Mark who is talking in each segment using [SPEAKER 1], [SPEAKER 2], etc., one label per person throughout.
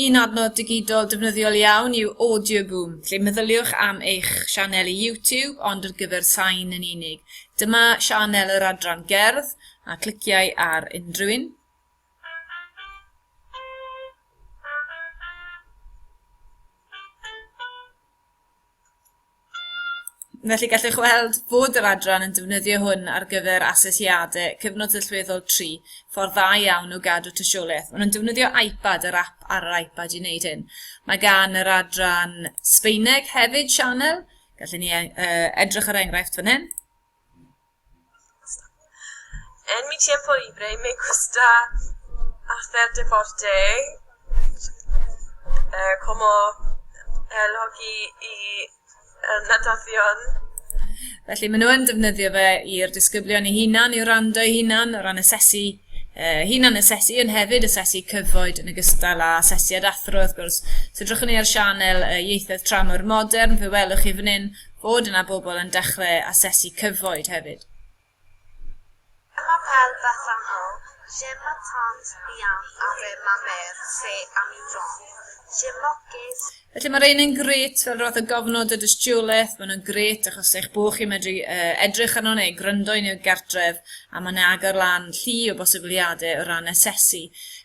[SPEAKER 1] Un adnodd digidol defnyddiol iawn yw Audioboom, lle meddyliwch am eich sianel i YouTube ond ar gyfer sain yn unig. Dyma sianel yr adran gerdd a cliciau ar unrhyw un. Felly gallwch weld bod yr adran yn defnyddio hwn ar gyfer asesiadau cyfnod sylweddol 3, ffordd dda iawn o gadw tystiolaeth. Maen nhw'n defnyddio iPad, yr app ar yr iPad i wneud hyn. Mae gan yr adran Sbeineg hefyd sianel, gallen ni uh, edrych ar enghraifft fan hyn.
[SPEAKER 2] En mi tiempo libre me gusta hacer deporte eh, como el hockey y el natación.
[SPEAKER 1] Felly maen nhw yn defnyddio fe i'r disgyblion ei hunan, i wrando ei hunan, o ran asesu uh, hunan asesu, yn hefyd asesu cyfoed yn ogystal â asesiad athro, wrth gwrs. Os edrychwn ni ar sianel uh, ieithoedd tramor modern, fe welwch chi fan hyn Bod yna bobl yn dechrau asesu cyfoed hefyd. Dyma
[SPEAKER 3] fel Bethan O, Gemma Tant Ian a fe Mamer Fe am i John, Gemma Ges. Felly mae rhein yn
[SPEAKER 1] grêt fel roedd y gofnod y dystiolaeth, maen nhw'n grêt achos eich bod chi'n medru uh, edrych arno neu gryndo yn i'w gartref a mae'n agor lan llu o bosibiliadau o ran asesu.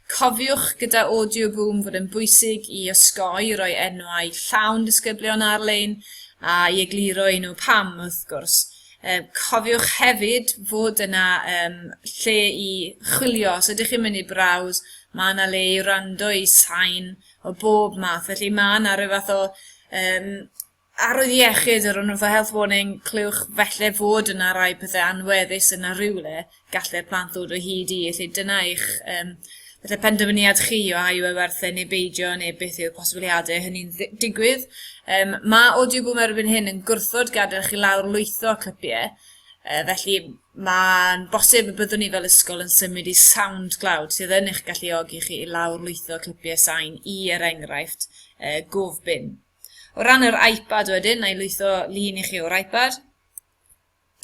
[SPEAKER 1] Cofiwch gyda Audio Boom fod yn bwysig i osgoi roi enwau llawn disgyblion ar-lein a i egluro i nhw pam wrth gwrs. Um, cofiwch hefyd fod yna um, lle i chwilio, os ydych chi'n mynd i brawd, mae yna le i rando i sain o bob math, felly mae yna rhyw fath o um, arwydd iechyd yr o'n fath o health warning, clywch felly fod yna rai pethau anweddus yna rhywle, gallu'r plant ddod o hyd i, felly dyna eich um, falle penderfyniad chi o a yw e werth e neu beidio neu beth yw'r posibiliadau hynny'n digwydd. Um, mae audio boom erbyn hyn yn gwrthod gadael chi lawr lwytho clipiau, uh, felly mae'n bosib y byddwn ni fel ysgol yn symud i SoundCloud sydd yn eich galluogi chi i lawr lwytho clipiau sain i er enghraifft uh, gofbin. O ran yr iPad wedyn, na i lwytho lun i chi o'r iPad.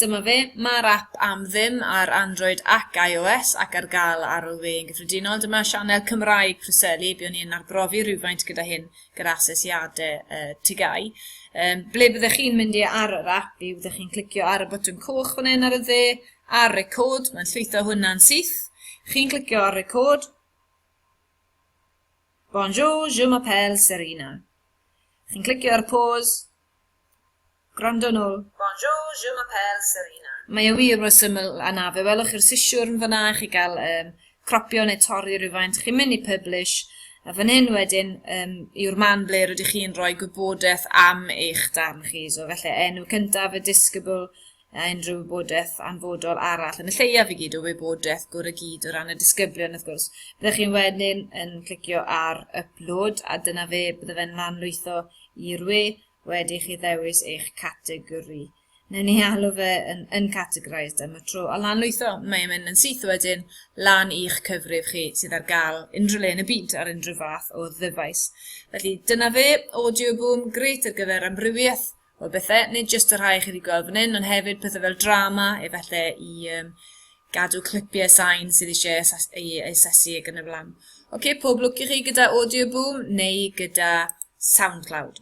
[SPEAKER 1] Dyma fe, mae'r ap am ddim ar Android ac iOS ac ar gael ar OV yn gyffredinol. Dyma sianel Cymraeg Preseli, byddwn ni'n arbrofi rhywfaint gyda hyn gyda asesiadau uh, tigau. Um, ble byddech chi'n mynd i ar yr ap i byddech chi'n clicio ar y botwm coch fan hyn ar y dde ar record, mae'n llwytho hwnna'n syth. Chi'n clicio ar record. Bonjour, je m'appelle Serena. Chi'n clicio ar pause. Gwrando nôl. Bonjour, je
[SPEAKER 2] m'appelle Serena. Mae e wir mor
[SPEAKER 1] syml a 'na, fe welwch chi'r sisiwrn fan'na i chi gael yym cropio neu torri rywfaint, chi'n mynd i Publish, a fan hyn wedyn yym yw'r man ble rydych chi'n rhoi gwybodaeth am eich darn chi, so felly enw cyntaf, y disgybl, a unrhyw wybodaeth anfodol arall, yn y lleiaf i gyd o wybodaeth gwr y gyd o ran y disgyblion wrth gwrs. Byddwch chi'n wedyn yn clicio ar Upload a dyna fe, bydde fe'n lanlwytho i'r we wedi chi ddewis eich categori. Newn ni alw fe yn uncategorised am y tro, a lan lwytho, mae'n mynd yn syth wedyn lan i'ch cyfrif chi sydd ar gael unrhyw le yn y byd ar unrhyw fath o ddyfais. Felly dyna fe, audio boom, gret ar gyfer amrywiaeth o bethau, nid jyst y rhai chi wedi gweld fan hyn, ond hefyd pethau fel drama, efallai i um, gadw clipiau sain sydd eisiau ei asesu ac yn y flan. Oce, okay, pob lwc i chi gyda Audio Boom neu gyda SoundCloud.